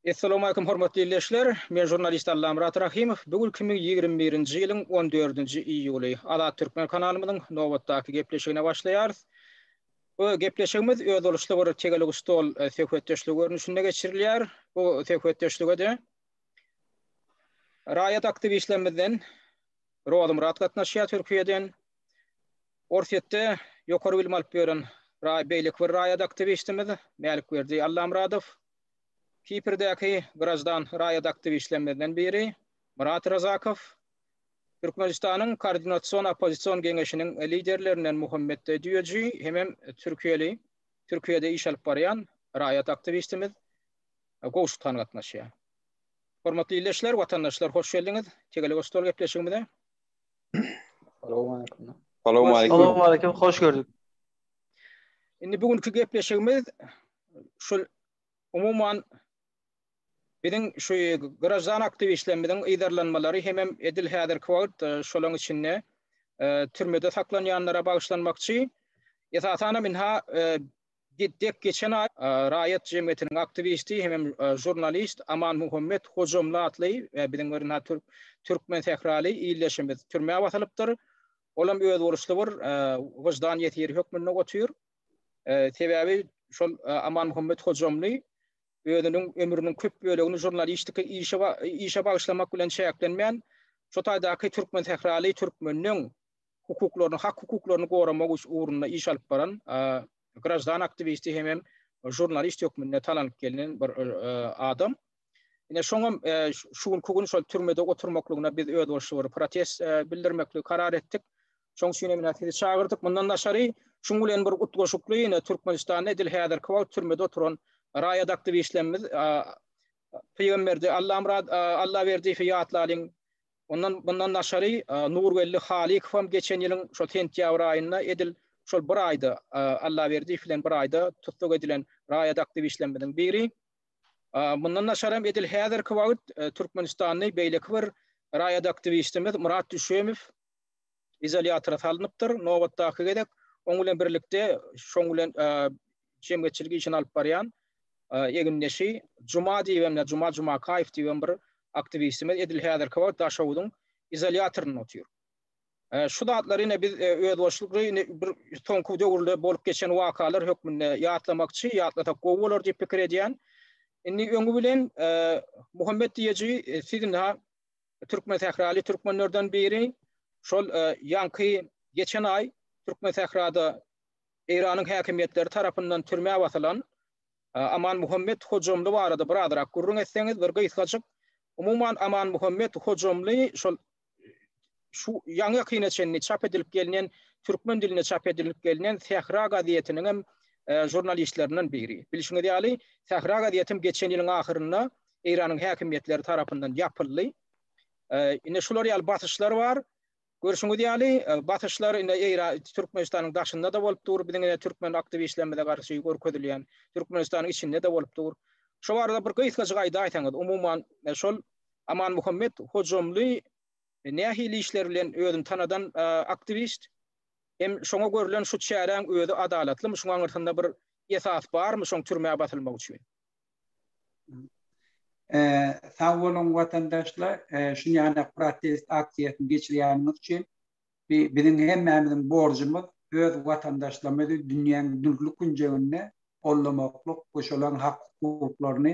Essalamu aleykum hormatly ildeşler. Men jurnalist Allamyrat Rahimow. Bu gün 2021-nji ýylyň 14-nji iýuly. Azat Türkmen kanalymyzyň nobatdaky gepleşigine başlaýarys. Bu gepleşigimiz özboluşly bir tegelek stol söhbetdeşligi görnüşinde geçirilýär. Bu söhbetdeşlige-de raýat aktiwistlerimizden Rozymyrat gatnaşýar Türkiýeden. Orsýetde ýokary bilim alyp ýören beýleki bir raýat aktiwistimiz Mälikberdi Allamyradow, Kiprdäki graždan raýat aktiwistlerimizden biri Myrat Razakow, Türkmenistanyň Koordinasion-oppozision geňeşiniň liderlerinden Muhammet Düýeji hemem türkiýeli, Türkiýede iş alyp barýan raýat aktiwistimiz Gowşuthan gatnaşýar. Hormatly ildeşler, watandaşlar, hoş geldiňiz Tegelek stol gepleşigimize! Salam aleyküm. Salam aleyküm. Salam aleyküm. Hoş gördük. Indi bugünkü gepleşigimiz şu umuman biziň şu grajdan aktiwistlerimiziň ýerlenmeleri hem hem edil häzirki wagt e, şolaryň içinde e, türmede saklanýanlara bagyşlanmakçy. Esasan hem inha e, Dek geçen aý raýat jemgyýetiniň aktiwisti hemem žurnalist Amanmuhammet Hojamly atly biziň bir na türk türkmen sähraly ildeşimiz türmä basylypdyr. Olam özboluşly bir wyždan ýesiri hökmünde otyr. Sebäbi şol Amanmuhammet Hojamly özüniň ömrüniň köp bölegini žurnalistika işe işe bagyşlamak bilen çäklenmän, şo taýdaky türkmen sähraly türkmeniniň hukuklaryny, hak-hukuklaryny goramak ugrunda iş alyp baran graždan aktiwisti hem hem žurnalist hökmünde talanyp gelnen bir adam. Ine şoňam şu günki gün şol türmede oturmaklygyna biz öz bolşy bir protest bildirmekli karar etdik. Şoň üçin hem ine sizi çagyrdyk. Mundan daşary şuň bilen bir utgaşykly ine Türkmenistanda edil häzirki wagt türmede oturan raýat aktiwistlerimiz Pygamberde Allamyrat Allaberdiýewi ýatlalyň Ondan mundan daşary Nurgeldi Halykowam geçen ýylyň şol sentýabr aýynda edil şol bir aýda Allaberdiýew bilen bir aýda tussag edilen raýat aktiwistlerimiziň biri. Mundan daşaram edil häzirki wagt türkmenistanly beýleki bir raýat aktiwistimiz Myrat Düşemow. izolýatora salnypdyr. Nobatdaky gezek oň bilen birlikde şoň bilen jemgyýetçilik işini alyp barýan egindeşi Juma diýip hem Juma Jumakaýew diýip hem bir aktiwistimiz edil häzirki wagt Daşoguzyň izolýatorynda otyr. Şu zatlary ine biz özboşlukly indi bir soňky döwürde bolup geçen wakalar hökmünde ýatlamakçy, ýatlasak gowy bolar diýip pikir edýän. Indi öňi bilen Muhammet Diýeji siz indi türkmensähraly türkmenlerden biri. Şol ýaňky geçen aý Türkmensährada Eýranyň häkimiýetleri tarapyndan türmä basylan Amanmuhammet Hojamly barada birazrak gürrüň etseňiz bir gysgajyk. Umuman Amanmuhammet Hojamly şol şu ýaňy-ýakyna çenli çap edilip gelnen türkmen dilinde çap edilip gelnen Sähra gazetiniň hem žurnalistlerinden biri. Bilşiňiz ýaly, Sähra gazetem geçen ýylyň ahyrynda Eýranyň häkimiýetleri tarapyndan ýapyldy. Indi şular ýaly basyşlar bar. Görşüňiz ýaly, basyşlar indi Eýran, Türkmenistanyň daşynda-da bolup dur, biziň indi türkmen aktiwistlerimize garşy görkezilýän, Türkmenistanyň içinde-de bolup dur. Şo barada bir gysgajyk aýdaýsaňyz, umuman, şol Amanmuhammet Hojamly nähili işler bilen özüni tanadan aktiwist? Hem şoňa görlen şu çäräň özi adalatlymy, şuň aňyrsynda bir esas barmy şoň türmä basylmagy üçin? Sag boluň watandaşlar, şunýandak protest aksiýasyny geçirýäniňiz üçin. Biziň hemmämiziň borjumyz öz watandaşlarymyzy dünýäň dürli künjeginde goldamaklyk we şolaryň hak-hukuklaryny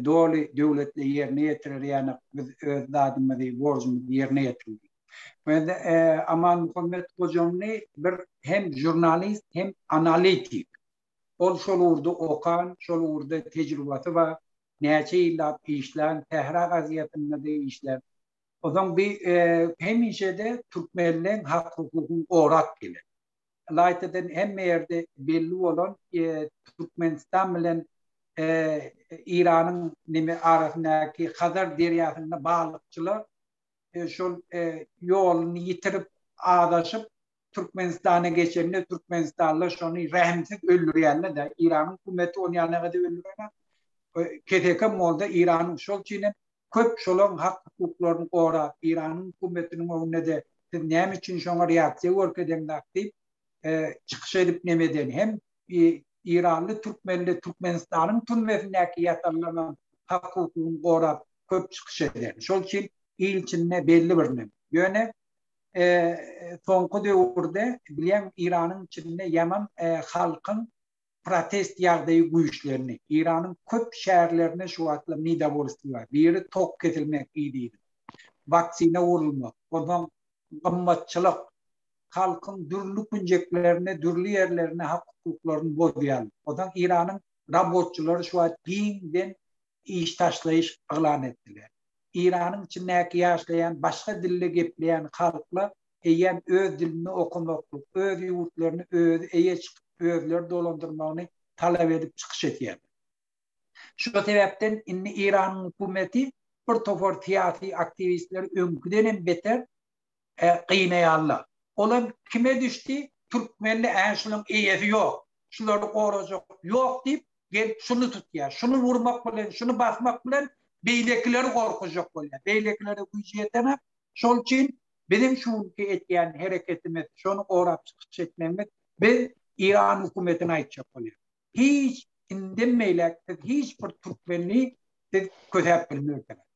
doly döwletli ýerine ýetirer ýanak biz öz zadymyzy, borjumyzy ýerine ýetirdik. Men Amanmuhammet Gojaňly bir hem žurnalist, hem analitik. Ol şol ugurda okan, şol ugurda tejribasy bar, näçe ýyllap işlän, Sähra gaziýetinde-de işläp. Onsoň bi hemişe-de türkmenleň hak-hukugyny gorap gelen. Ylaýtadan hemme ýerde belli bolan Türkmenistan bilen Eýranyň neme arasyndaky Hazar derýasynda balykçylar şol ýoluny ýitirip, azaşyp, Türkmenistana geçende türkmenistanlylar şony rehimsiz öldürýänler-de, Iranyň hökümeti ony ýa negadyp öldürenok, keseki molda Iranyň şol üçin hem köp şolaryň hak-hukuklaryny gorap, Iranyň hökümetiniň öňünde-de siz näme üçin şoňa reaksiýa görkezeňzak diýip çykyş edip nem eden hem iranly türkmenler Türkmenistanyň türmesindäki ýatanlaryň hak-hukugyny gorap köp çykyş eden. Şol üçin il içinde belli bir nem. Ýöne soňky döwürde bilýän Iranyň içinde ýaman halkyň protest ýagdaýy güýçlendi. Iranyň köp şäherlerinde şu wagtlar nidavolstwo bar. Biri tok kesilmek ididi. Waksina urulmak. Onsoň gymmatçylyk. Halkyň dürli künjeklerinde, dürli ýerlerinde hak-hukuklaryny bozýarlar. Onsoň Iranyň robotçylary şu wagt giňden iş taşlaýyş yglan etdiler. Eýranyň içindäki ýaşlaýan başga dilde gepleýän halklar eýýäm öz dilinde okamaklyk, öz ýurtlaryny özi eýe çykyp, özleri dolandyrmagyny talap edip çykyş etýärler. Şu sebäpden indi Eýranyň hökümeti bir topar syýasy aktiwistleri öňküden hem beter gynaýarlar. Olam kime düşdi, türkmende ä şunuň eýesi ýok, şulary gorajak ýok diýip, gelip şuny tutýar. Şuny wurmak bilen, şuny basmak bilen beýlekileri gorkuzjak bolýar. Beýlekilere güýji ýetenak. Şol üçin biziň şu günki etýän hereketimiz, şony gorap çykyş etmegimiz, biz Eýran hökümetine aýtjak bolýarys. Hiç, indem beýläk siz hiç bir türkmeni siz kösäp bilmersiňiz.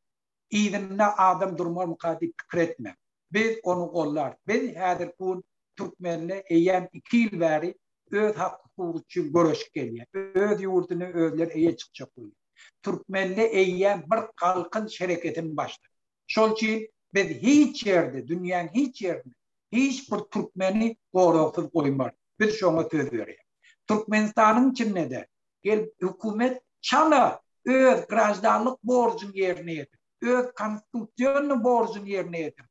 yzynda adam durmarmyka diýip pikir etmäň. Biz ony gollarys. Biz häzirki gün türkmenler eýýäm iki ýyl bäri öz hak-hukugy üçin göreşip gelýär. Öz ýurduny özleri eýe çykjak bolýar. Türkmenler eýýäm bir galkynyş hereketini başlady. Şol üçin biz hiç ýerde, dünýäň hiç ýerinde hiç bir türkmeni goragsyz goýmarys. Biz şoňa söz berýäris. Türkmenistanyň içinde-de gelip hökümet çala öz graždanlyk borjuny ýerine ýetir, öz konstitusionnyý borjuny ýerine ýetir,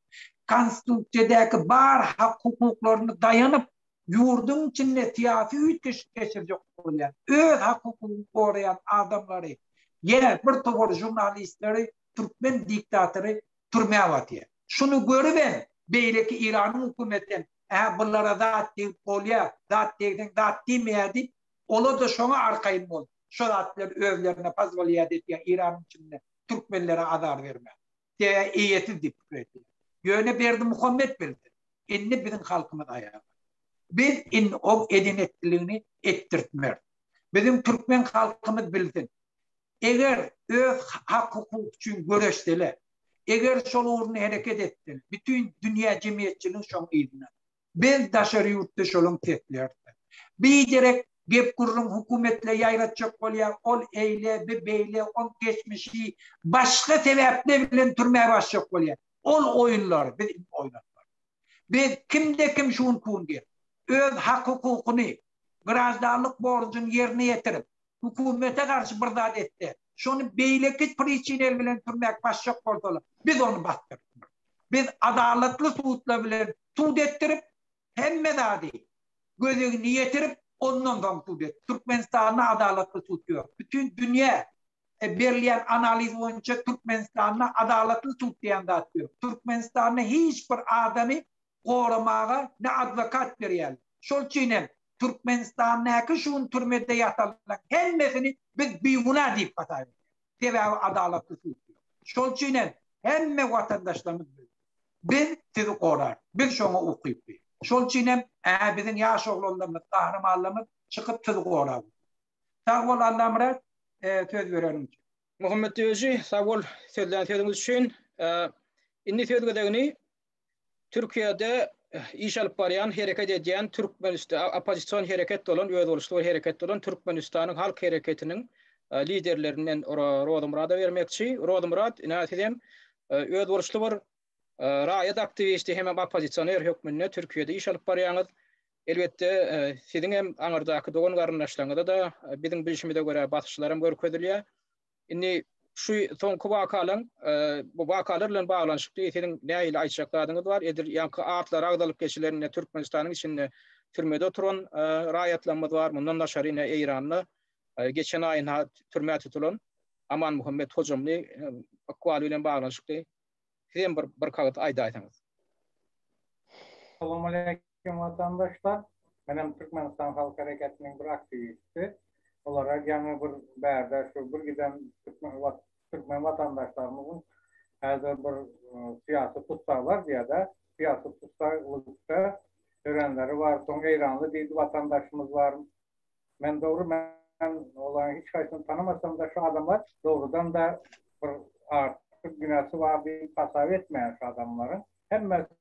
konstitusiýadäki bar hak-hukuklaryny daýanyp, ýurduň içinde syýasy üýtgeşik geçirjek bolýan, öz hak-hukugyny goraýan adamlary ýa bir topar žurnalistleri türkmen diktatory türmä batýar. Şuny görübem beýleki Iranyň hökümeti hem, Ä bulara zat degip bolýar, zat degseň zat diýmeýär diýip, Olar-da şoňa arkaýyn bolup, şo zat bilen özlerine pozwolýat edýär, Eýranyň içinde türkmenlere azar bermäge. Sebäbi eýesiz diýip pikir edýär. Ýöne Berdimuhamet bildi, indi biziň halkymyz aýaga. Biz indi oň eden-etdiligini etdirtmeris. Biziň türkmen halkymyz bilsin, eger öz hak-hukugy üçin göreşseler, eger şol ugurny hereket etseler, bütin dünýä jemgyýetçiligi şoň yzyndadyr. Biz daşary ýurtda şolaň seslerdir. Biderek gep-gürrüň hökümetle ýaýratjak bolýar, ol eýle, bi beýle, oň geçmişi, başga sebäpler bilen türmä basjak bolýar. Ol oýunlary biz indi oýnatmarys. Biz kimde-kim şu gün-pun gelip, öz hak-hukukyny, graždanlyk borjuny ýerine ýetirip, Hukumete garşy bir zat etse, şony beýleki priçinel bilen türmäk başjak bolsalar, biz ony basdyrtmarys. Biz adalatly sudlar bilen sud etdirip, hemme zady göz öňüne ýetirip, ondan soň sud et. Türkmenistanda adalatly sud ýok. Bütin dünýä berilýän analiz boýunça Türkmenistanda adalatly sud diýen zat ýok. Türkmenistanda hiç bir adamy goramaga ne adwokat berýärler. Şol üçin hem Türkmenistandaky şu gün türmede ýatanlaryň hemmesini biz biguna diýip hasap edýäris. Sebäbi adalatly sud ýok. Şol üçin hem hemme watandaşlarymyz bilsin. Biz sizi gorarys. Biz şoňa ukyply. Şol üçin hem hä biziň ýaş oglanlarymyz, gahrymanlarymyz çykyp sizi gorap otyr. Sag bol Allamyrat söz bereniň üçin. Muhammet Öji sag bol sözlän sözüňiz üçin. Indi söz gezegini Türkiýede iş alyp barýan, hereket edýän Türkmenist-, oppozision hereket bolan, özboluşly bir hereket bolan Türkmenistanyň Halk Hereketiniň liderlerini men Rozymyrada bermekçi. Rozymyrat, ine, siz hem özboluşly bir raýat aktiwisti hemem oppozisioner hökmünde Türkiýede iş alyp barýaňyz. Elbetde, siziň hem aňyrdaky dogan-garyndaşlaryňyza-da biziň bilşimize görä basyşlaram görkezilýär. Indi şu soňky wakalaň bu wakalar bilen baglanyşykly siziň nähili aýtjak zadyňyz bar? Edil ýaňky atlary agzalyp geçilen ine Türkmenistanyň içinde türmede oturan raýatlarymyz bar. Mundan daşary ine Eýranda geçen aýyň ha türmä tutulan Amanmuhammet Hojamly ykbaly bilen baglanyşykly Sizem bir bir kagyz aýdaýsaňyz. Salamaleýkim watandaşlar. Menem Türkmenistan halk hereketiniň bir aktiwisti. Olara ýaňy bir bärde şu bir giden türkmen wat türkmen watandaşlarymyzyň häzir bir syýasy tussaglar diýýärde, syýasy tussag bolupda örenleri bar. Soň eýranly diýdi watandaşymyz bar. Men dogry men olaryň hiç haýsyny tanamasam-da şu adamlar dogrudan-da bir artyk günäsi bar diýip hasap etmeýän şu adamlaryň hemmesi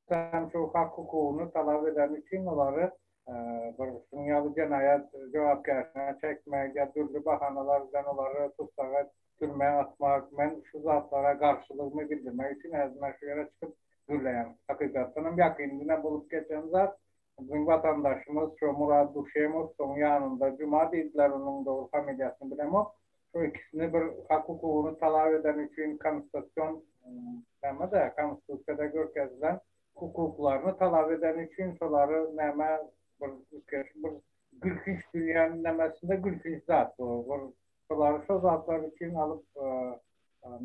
hem şu hak-hukugyny talap edeni üçin olary bir şunuň ýaly jenaýat jogapkärçiligine çekmek ýa dürli bahanalar bilen olary tussaga türmä atmak men şu zatlara garşylygymy bildirmek üçin äzmä şu ýere çykyp gürleýän. Hakykatdan hem ýakynda bolup geçen zat Biziň watandaşymyz şo Murad Duşemowyň ýanynda juma diýdileriniň dogry familiýasyny bilemok. Şo ikisini bir hak hukugyny talap edeni üçin konstasion näme de konstitusiýada görkezilen hukuklaryny talap edeni üçin şolary näme bir üýtgeşik bir gülkünç dünýäniň nämesinde gülkünç zat bu bir şolary şo zatlar üçin alyp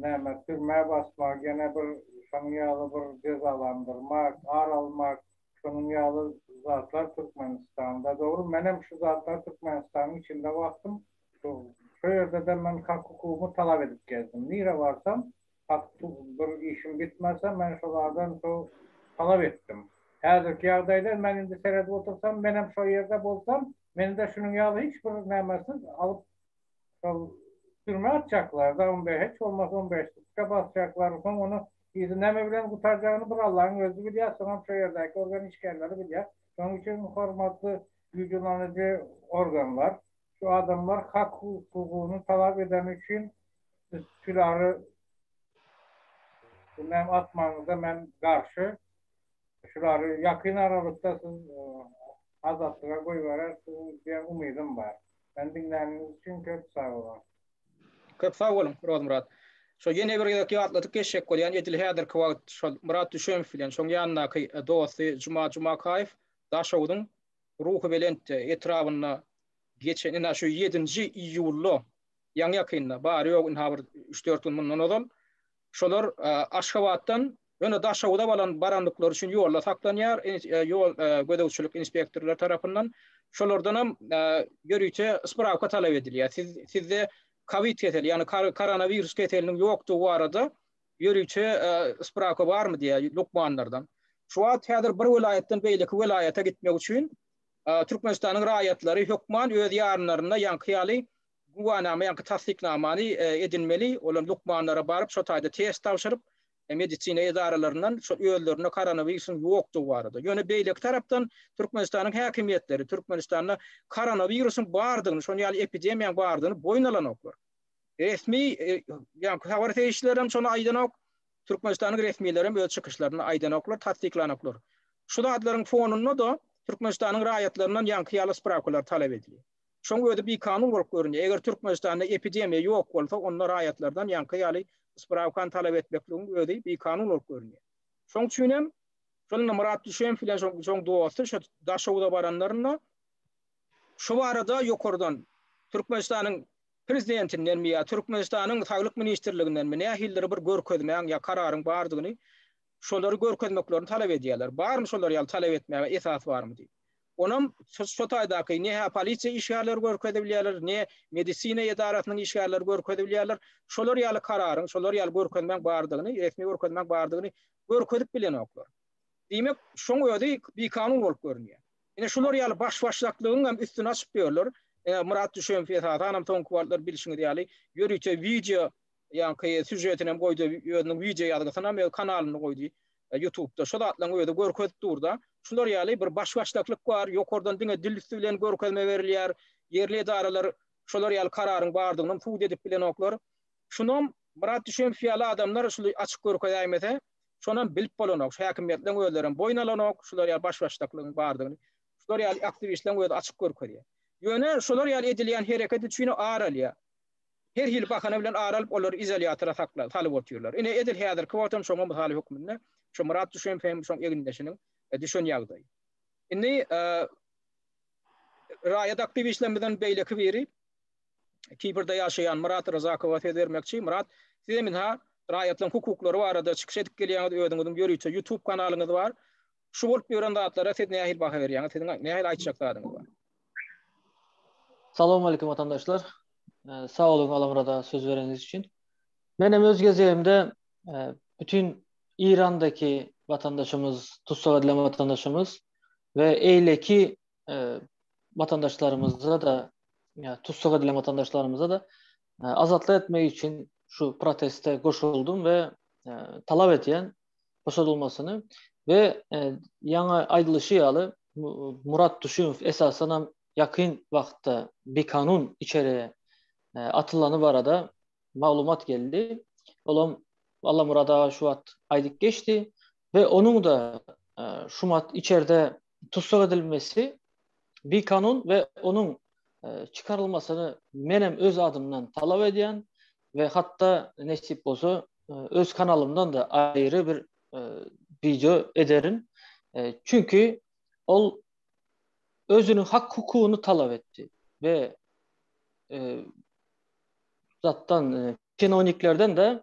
näme türmä basmak ýene bir şonuň ýaly bir jezalandyrmak ar almak Şonuň ýaly zatlar Türkmenistanda dogry. Menem şu zatlary Türkmenistanyň içinde bakdym. Şu şu ýerde-de men hak hukugymy talap edip gezdim. Nire barsam hak bir işim bitmese men şolardan şu talap etdim. Häzirki ýagdaýda men indi seredip otursam menem şo ýerde bolsam meni-de şunuň ýaly hiç bir nämesiz alyp Şol türmä atjaklar, dawamda hiç bolmasa on bäş sutka basjaklar, soň ony yzy näme bilen gutarjagyny bir Allaň özi bilýär, soňam şo ýerdäki organ işgärleri bilýär. Şonuň üçin hormatly güýjulanyjy organlar, şu adamlar hak hukugyny talap edeni üçin siz Pülary näme atmagyňyza men garşy, şulary ýakyn aralykda siz azatlyga goýberersiň diýen umydym bar. Meni diňläniňiz üçin köp sag boluň. Köp sag boluň, Rozmyrat. Şo ýene bir gezek ýatladyp geçjek bolýan, edil häzirki wagt şol Myrat Düşemow bilen şoň ýanyndaky dosty Juma Jumakaýew Daşoguzyň Ruhubelent etrabynda geçen ine şu ýedinji iýulda, ýaňy-ýakynda, bary-ýogy ine ha bir üç-dört gün mundan ozal Şolar Aşgabatdan ýöne Daşoguza balan barandyklary üçin ýolda saklanýar, ýol gözegçilik inspektorlary tarapyndan. Şolardan hem ýörite sprawka talap edilýär. Siz sizde kowid keseli, ýagny koronawirus keseliniň ýokdugy barada ýörite sprawka barmy diýýär lukmanlardan. Şu wagt häzir bir welaýatdan beýleki welaýata gitmek üçin Türkmenistanyň raýatlary hökman öz ýarynlarynda ýaňky ýaly güwänama ýa-da tassyknamany edinmeli, olar lukmanlara baryp, şo taýda test tabşyryp, medisina edaralaryndan şol özlerinde koronawirusyň ýokdugy barada, ýöne beýleki tarapdan Türkmenistanyň häkimiýetleri Türkmenistanda koronawirusyň bardygyny, şonuň ýaly epidemiýanyň bardygyny boýun alanoklar. Resmi ýaňky habar serişdeleri hem şony aýdanok, Türkmenistanyň resmileri hem öz çykyşlarynda aýdanoklar, tassyklanoklar. Şu zatlaryň fonunda-da Türkmenistanyň raýatlaryndan ýaňky ýaly sprawkalary talap edilýär. Şoň özi bikanun bolup görünýär. Eger Türkmenistanda epidemiýa ýok bolsa, onda raýatlardan ýaňky ýaly sprawkany talap etmekligiň özi bikanun bolup görünýär. Şoň üçin hem, şol indi Myrat Düşeýew bilen şoň dosty şo Daşoguza baranlarynda şu barada ýokardan Türkmenistanyň Prezidentindenmi ýa Türkmenistanyň Saglyk ministrligindenmi nähilidir bir görkezmäň ýa kararyň bardygyny, şolary görkezmeklerini talap edýärler. Barmy şolar ýaly talap etmäge esas barmy diýip. Onam şo taýdaky ne hä polisiýa işgärleri görkezip bilýärler, ne medisina edarasynyň işgärleri görkezip bilýärler. Şolar ýaly kararyň, şolar ýaly görkezmäň bardygyny, resmi görkezmäň bardygyny görkezip bilenoklar. Diýmek, şoň özi bikanun bolup görünýär. Ine şular ýaly baş-başdaklygyň hem üstüni açyp ýörler. Myrat Düşemow esasanam soňky wagtlar bilşiňiz ýaly ýörite wideo Ýaňky sýužetinem goýdy, özüniň wideo ýazgysynam öz kanalynda goýdy. Ýutubda şu zatlaryň özi görkezip durda. Şular ýaly bir baş-başdaklyk bar, ýokardan diňe dil üsti bilen görkezme berilýär. Ýerli edaralar şolar ýaly kararyň bardygynam subut edip bilenoklar. Şunam Myrat Düşemow ýaly adamlar şul açyk görkezäýmese, şonam bilip bolanok. Şu häkimiýetleriň özlerem boýun alanok şular ýaly baş-başdaklygyň bardygyny. Şular ýaly aktiwistleriň özi açyk görkezýär. Ýöne şolar ýaly edilýän hereket üçin ar alýar. her hili bahana bilen ara alyp, olary izolýatora sakla, salyp otyrlar. Ine, edil häzirki wagtam şoňa mysal hökmünde şu Myrat Düşemow hem şoň egindeşiniň düşen ýagdaýy. Indi raýat aktiwistlerimizden beýleki biri, Kiprde ýaşaýan Myrat Ryzakowa söz bermekçi. Myrat, siz hem ynha, raýatlaryň hukuklary barada çykyş edip gelýäňiz, özüňiziň ýörite YouTube kanalyňyz bar. Şu bolup ýören zatlara siz nähili baha berýäňiz? Siziň nähili aýtjak zadyňyz bar? Salowmalikim watandaşlar. Sag boluň Alamyrada söz bereniňiz üçin. Men hem öz gezegimde bütin Eýrandaky watandaşymyz, tussag edilen watandaşymyz we eýleki watandaşlarymyza-da, tussag edilen watandaşlarymyza-da azatlyk etmek üçin şu proteste goşuldym we talap edýän, goşulmasyny we e, ýaňy aýdylyşy ýaly Murat Duşunow esasan hem ýakyn wagtda bikanun içeri e, atylany barada maglumat geldi. Olam Allah Murada şu wagt aýdyp geçdi we onuň da e, şu mat içerde tussag edilmesi bikanun we onuň çykarylmasyny men hem öz adymdan talap edýän we hatda nesip bolsa öz kanalymdan da aýry bir wideo ederin. Çünki ol özüniň hak hukugyny talap etdi we zatdan çinoniklerden de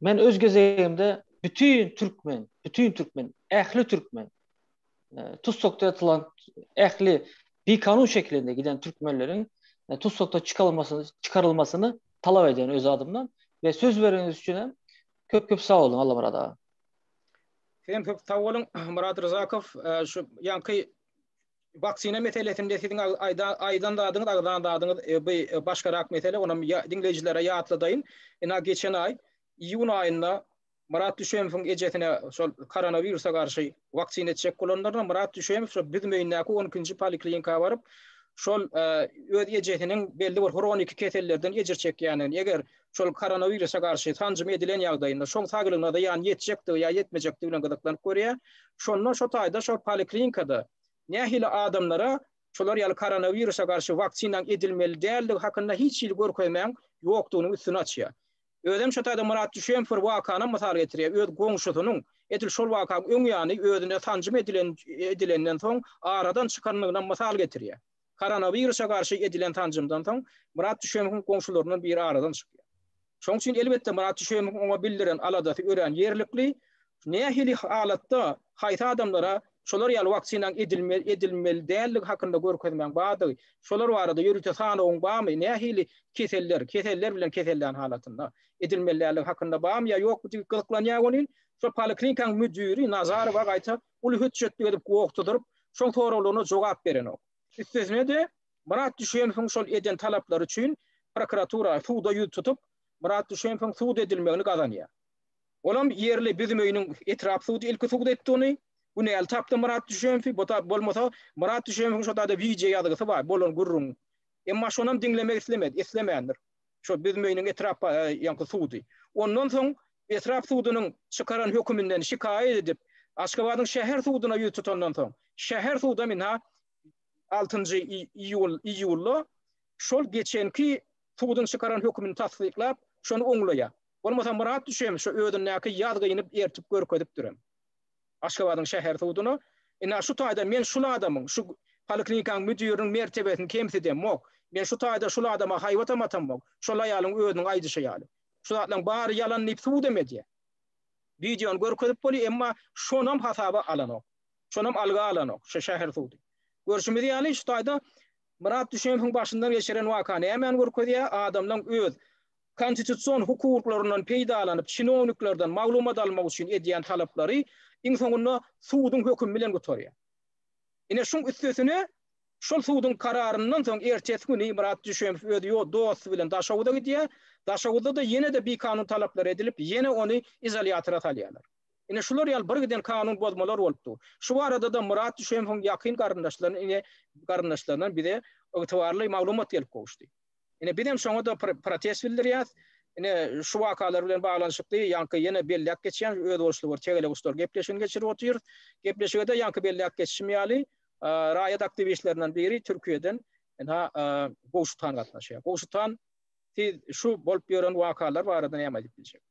Men öz gezegimde bütün türkmen, bütün türkmen, ähli türkmen tussakda atylan ähli bikanun şeklinde giden türkmenleriň e, tussakda çykarylmasyny çykarylmasyny talap edýän öz adymdan we söz bereniňiz üçin hem köp köp sag boluň Allamyrat aga. Sen köp sag boluň Murat Ryzakow e, şu ýanky Waksina meselesinde siziň aýdan zadyňyz, agzan zadyňyz bu başgarak mesele, ony diňleýjilere ýatladaýyn. Ynha geçen aý, iýun aýynda Myrat Düşemowyň ejesine şol koronawirusa garşy waksina etjek bolanlarynda Myrat Düşemow şo Büzmeýindäki on ikinji poliklinika baryp, şol öz ejesiniň belli bir hroniki kesellerden ejir çekýändigini, eger şol koronawirusa garşy sanjym edilen ýagdaýynda şoň saglygyna zyýan ýetjekdigi ýa ýetmejekdigi bilen gyzyklanyp görýär. Şonda şo taýda şo poliklinikada nähili adamlara şolar ýaly koronawirusa garşy waksinanyň edilmeli däldigi hakynda hiç hili görkezmäň ýokdugynyň üstüni açýar. Özem şo taýda Myrat Düşeýew bir wakanam mysal getirýär. Öz goňşusynyň edil şol wakaň öň ýany özüne sanjym edilen edilenden soň aradan çykanynynam mysal getirýär. Koronawirusa garşy edilen sanjymdan soň, Myrat Düşemowyň goňşularyndan biri aradan çykýar. Şonuň üçin, elbetde, Myrat Düşemowyň oňa bildiren aladasy örän ýerlikli. Nähili halatda, haýsy adamlara şolar ýaly waksinanyň edilmeli, edilmeli däldigi hakynda görkezmäň bardygy, şolar barada ýörite sanawyň barmy, nähili keseller, keseller bilen kesellän halatynda edilmeli däldigi hakynda barmy ýa ýokmy diýip gyzyklanýar welin, şol poliklinikaň müdiri Nazarowa gaýta uly hötjetlik edip gogtudyryp, şoň soraglaryna jogap berenok. Üstesine-de, Myrat Düşemowyň şol eden talaplary üçin prokuratura suda ýüz tutup, Myrat Düşemowyň sud edilmegini gazanýar. Olam ýerli Büzümöýüniň etrap sudy ilki sud etdi ony. Günäli tapdy Myrat Düşemowy. Bu da bolmasa, Myrat Düşemowyň şo taýda wideo ýazgysy bar, bolan gürrüň. Emma şonam diňlemek islemedi, islemändir. şo Büzmeýiniň etrap ýaňky sudy. Ondan soň etrap sudunyň çykaran höküminden şikaýat edip, Aşgabadyň şäher suduna ýüz tutandan soň, şäher sudam ynha altynjy iýul iýulda şol geçenki suduň çykaran hökümini tassyklap, şony oňlaýar. Bolmasa Myrat düşem şo özündäki ýazgyny ertip görkezipdirem. Aşgabadyň şäher suduna ina şu taýda men şul adamyň, şu poliklinikaň müdiriniň mertebesini kemsidemok, men şu taýda şul adama haýbatam atamok, şol aýalyň özüniň aýdyşy ýaly. Şu zatlaryň bary ýalan diýip sudam edýär. Wideony görkezip bolýar, emma şonam hasaba alanok. Şonam alga alanok şu şäher sudy. Görşümiz ýaly, şu taýda Myrat Düşemowyň başyndan geçiren waka nämeni görkezýär? Adamlaň öz konstitusion hukuklaryndan peýdalanyp çinowniklerden maglumat almak üçin edýän talaplary iň soňunda suduň hökümi bilen gutarýar. Ine şuň üstesine şol suduň kararyndan soň ertesi güni Myrat Düşemow öz ýo dosty bilen Daşoguza gidýär, Daşoguzda-da ýene-de bikanun talaplar edilip ýene ony izolýatora salýarlar. Ine şular ýaly birgiden kanun bozmalar bolup dur. Şu barada-da Myrat Düşemowyň ýakyn garyndaşlaryn ine garyndaşlaryndan bize ygtybarly maglumat gelip gowuşdy. Ine, biz hem şoňa-da protest bildirýäs. Ine, şu wakalar bilen baglanyşykly ýaňky ýene belläp geçýän özboluşly bir tegeleguşlar gepleşigini geçirip otyrys. Gepleşige-de ýaňky belläp geçişim ýaly, raýat aktiwistlerinden biri Türkiýeden ynha Gowşut han gatnaşýar. Gowşut han, siz şu bolup ýören wakalar barada näme aýdyp biljek?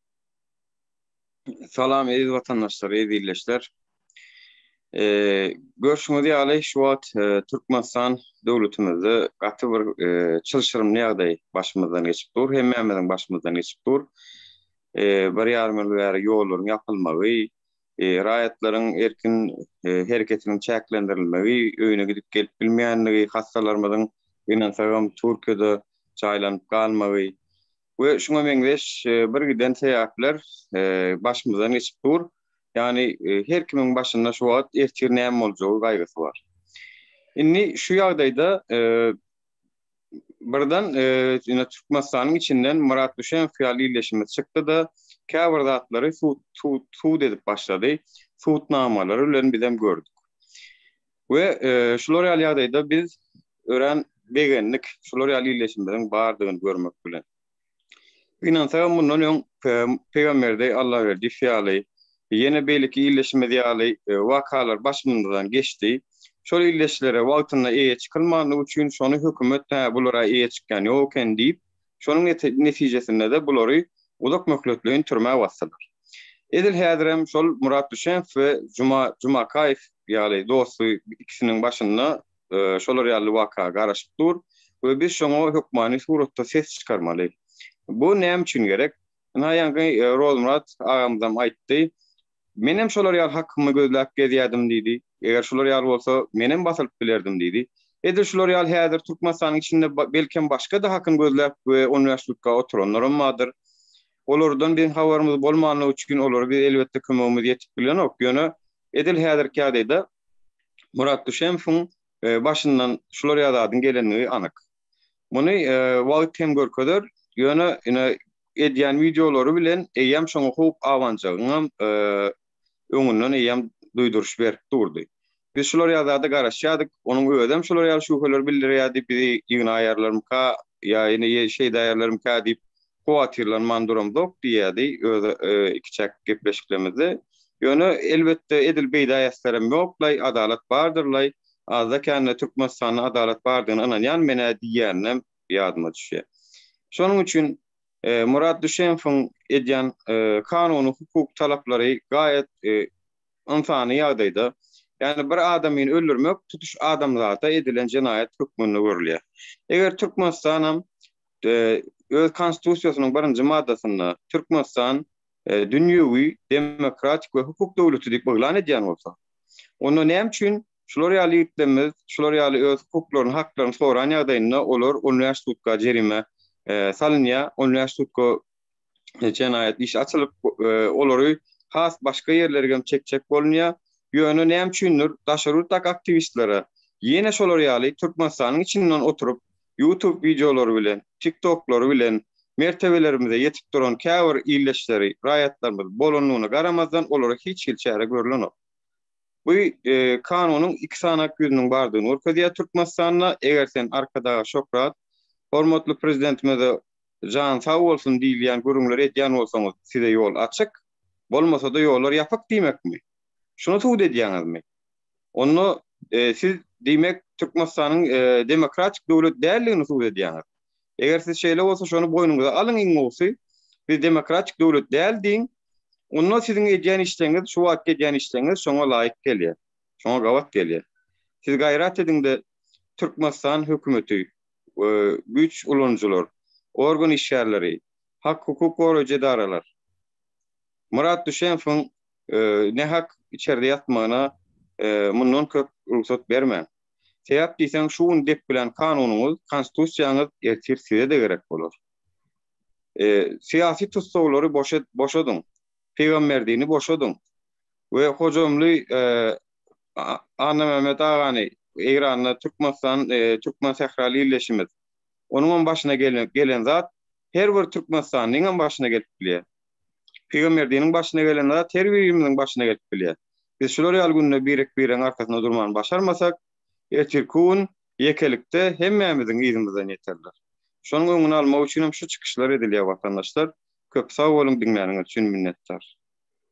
Salam eziz watandaşlar, eziz ildeşler. Görşüňiz ýaly şu wagt e, Türkmenistan döwletimizde gaty bir e, çylşyrymly ýagdaý başymyzdan geçip dur, hemmämiziň başymyzdan geçip dur. E, bir ýarym ýyl bäri ýollaryň ýapylmagy, raýatlaryň erkin hereketiniň çäklendirilmegi, öýüne gidip gelip bilmeýänligi, hassalarymyzyň ynansaňam Türkiýede jaýlanyp galmagy, we şuňa meňzeş birgiden sebäpler başymyzdan geçip dur. Ýagny her kimiň başynda şu wagt ertir näme boljagy gaýgysy bar. Indi şu ýagdaýda birden ýene Türkmenistanyň içinden Myrat Düşänow ýaly ildeşimiz çykdy-da, käbir zatlary sud edip başlady. Sud namalary bilen bizem gördük. We şular ýaly ýagdaýda biz örän begendik, şular ýaly ildeşimiziň bardygyny görmek bilen. Gynansagam mundan öň Peygamberdeý Allaberdiýew ýaly, ýene beýleki ildeşimiz ýaly wakalar başymyzdan geçdi. Şol ildeşlere wagtynda eýe çykylmandygy üçin şony hökümet hä bular-a eýe çykýan ýok eken diýip, Şonuň netijesinde-de bulary uzak möhletleýin türmä basdylar. Edil häzirem şol Murat Düşänow we Juma Jumakaýew ýaly dosty ikisiniň başynda şolar ýaly waka garaşyp dur we biz şoňa hökmany suratda ses çykarmaly. Bu näme üçin gerek? Ynha ýaňky Rozmyrat agamyzam aýtdy. Menem şolar ýaly hakymy gözläp gezýärdim diýdi. Eger şular ýaly bolsa, menem basylyp bilerdim diýdi. Edil şular ýaly häzir Türkmenistanyň içinde belkem başga-da hakym gözläp we on bäş sutka oturanlaram bardyr. Olardan biziň habarymyz bolmanlygy üçin olara biz elbetde kömegimiz ýetip bilenok. Ýöne edil häzirki ýagdaýda Murat Düşemowyň başyndan şular ýaly zadyň gelenligi anyk. Muny wagt hem görkezer, ýöne ine edýän wideolary bilen eýýäm şoňa howp abanjagyňam öňünden eýýäm duýduryş berip durdy. Biz şular ýaly zada garaşýardyk, onuň özem şular ýaly şübheleri bildirýärdi, bizi ýygnaýarlarmyka ýa ine şeýdäýerlermikä diýip, kowatyrlanman duramzok diýýärdi öz ikiçäk gepleşiklerimizde. Ýöne, elbetde, edil beýdä äsgerem ýoklaý, adalat bardyrlaý, azda-kände Türkmenistanda adalat bardygyna ynanýan men-ä diýýäninem ýadyma düşýär. Şonuň üçin Murat Düşemowyň edýän kanuny-hukuk talaplary gaýat ynsany ýagdaýda. Ýagny bir adamyny öldürmek tutuş adamzata edilen jenaýat hökmünde görülýär. Eger Türkmenistanam öz Konstitusiýasynyň birinji maddasynda Türkmenistan dünýewi, demokratik we hukuk döwleti diýip yglan edýän bolsa, onda näme üçin şular ýaly ýigitlerimiz şular ýaly öz hukuklaryny, haklaryny soran ýagdaýynda olar on bäş sutka jerime salynýar, on bäş sutka jenaýat işi açylyp, olary has başga ýerlerge hem çekjek bolunýar. Ýöne näme üçindir, daşary ýurtdaky aktiwistlere ýene şolar ýaly Türkmenistanyň içinden oturyp, YouTube wideolary bilen, TikToklary bilen mertebelerimize ýetip duran käbir ildeşleri, raýatlarymyz bolandygyna garamazdan, olara hiç hili çäre görülenok. Bu kanunyň iki sany ak ýüzüniň bardygyny görkezýär Türkmenistanda. Eger sen Arkadaga Şöhrat, hormatly Prezidentimize Jany sag bolsun diýilýän gürrüňleri edýän bolsaňyz size ýol açyk, bolmasa-da ýollar ýapyk diýmekmi? Şuny subut edýäňizmi? Onda siz diýmek Türkmenistanyň demokratik döwlet däldigini subut edýäňiz. Eger siz şeýle bolsa şony boýnuňyza alyň iň gowusy, biz demokratik döwlet däl diýiň, onda siziň edýän işleňiz, şu wagtky edýän işleňiz şoňa laýyk gelýär, şoňa gabat gelýär. Siz gaýrat ediňde Türkmenistan hökümeti, we güýç ulanyjylar, organ işgärleri, hak-hukuk goraýjy edaralar Myrat Düşemowyň nähak içerde ýatmagyna mundan köp rugsat bermäň. Sebäp diýseň şu gün depgilän kanunyňyz, konstitusiýaňyz ertir size-de gerek bolar. Syýasy tussaglary boşadyň, Pygamberdini boşadyň we Hojamly Annamämmet agany Eýranda Türkmenistan Türkmen sähraly illeşimiz. Onuňam başyna gelen zat her bir türkmenistanlyňam başyna gelip bilýär. Pygamberdiniň başyna gelen zat her birimiziň başyna gelip bilýär. Biz şular ýaly günde birek-biregiň arkasynda durmany başarmasak, ertirki gün ýekelikde hemmämiziň yzymyzdan ýeterler. Şonuň öňüni almak üçinem şu çykyşlar edilýär watandaşlar. Köp sag boluň diňläniňiz üçin minnetdar.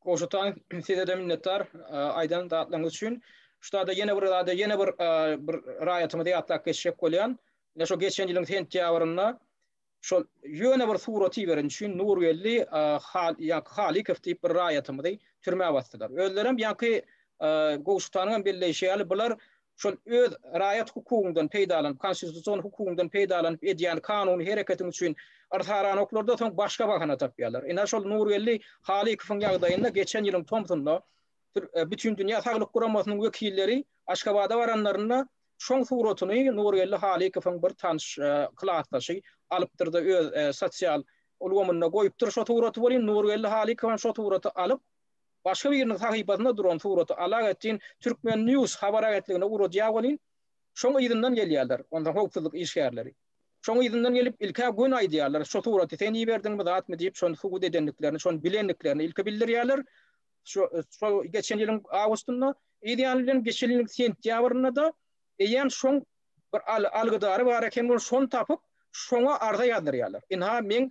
Goşatan sizede minnetdar aýdan zatlaryňyz üçin. Şutada ýene bir zada ýene bir bir raýatymyzy ýatlap geçjek bolýan. Ine şo geçen ýylyň sentýabrynda şol ýöne bir surat iberen üçin Nurgeldi Halykow diýip bir raýatymyzy türmä basdylar. Özlerem ýaňky Goşatanyňam belleýşi ýaly bular şol öz raýat hukugyndan peýdalanyp, konstitusion hukugyndan peýdalanyp edýän kanuny hereketiň üçin yrsaranoklarda soň başga bahana tapýarlar. Ine, şol Nurgeldi Halykowyň ýagdaýynda geçen ýylyň tomsunda Bütindünýä saglyk guramasynyň wekilleri Aşgabada baranlarynda şoň suratyny Nurgeldi Halykowyň bir tanyş klasdaşy alypdyr-da öz sosial ulgamynda goýupdyr şo suraty welin Nurgeldi Halykow hem şo suraty alyp, Başga biriniň sahypasynda duran suraty alak etjin Türkmen. News habar agentligine ugradýa welin, şoň yzyndan gelýärler, onsoň howpsuzlyk işgärleri. Şoň yzyndan gelip, ilk-ä göni aýdýarlar, şu suraty sen iberdiňmi, zatmy diýip, şony subut edendiklerini, şony bilendiklerini ilki bildirýärler. Şu, şol geçen ýylyň awgustynda, eýýäm bilen geçen ýylyň sentýabrynda-da eýýäm şoň bir al, algydary bar eken, ol şony tapyp, şoňa arza ýazdyrýarlar. Ynha, meň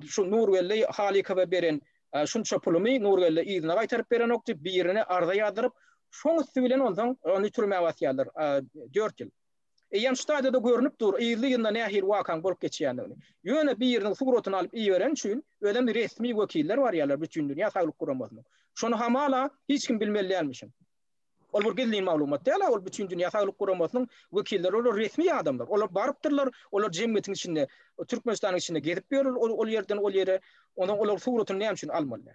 Şu Nurgeldi Halykowa beren şunça pulumy Nurgeldi yzyna gaýtaryp berenok diýip, birine arza ýazdyryp, şoň üsti bilen onsoň ony türmä basýarlar dört ýyl. Eýýäm şu taýda-da görnüp dur, yzly-yzyna nähili wakaň bolup geçýändigini. Ýöne biriniň suratyny alyp iberen üçin, özem resmi wekiller barýarlar Bütindünýä Saglyk Guramasynyň. Şony hamala hiç kim bilmeli dälmişin. Ol bir gizlin maglumat däl-ä, ol Bütindünýä Saglyk Guramasynyň wekilleri, olar resmi adamlar. Olar barypdyrlar, olar jemgyýetiň içinde, Türkmenistanyň içinde gezip ýörler, ol ýerden ol ýere. Onsoň olaryň suratyny näme üçin almaly?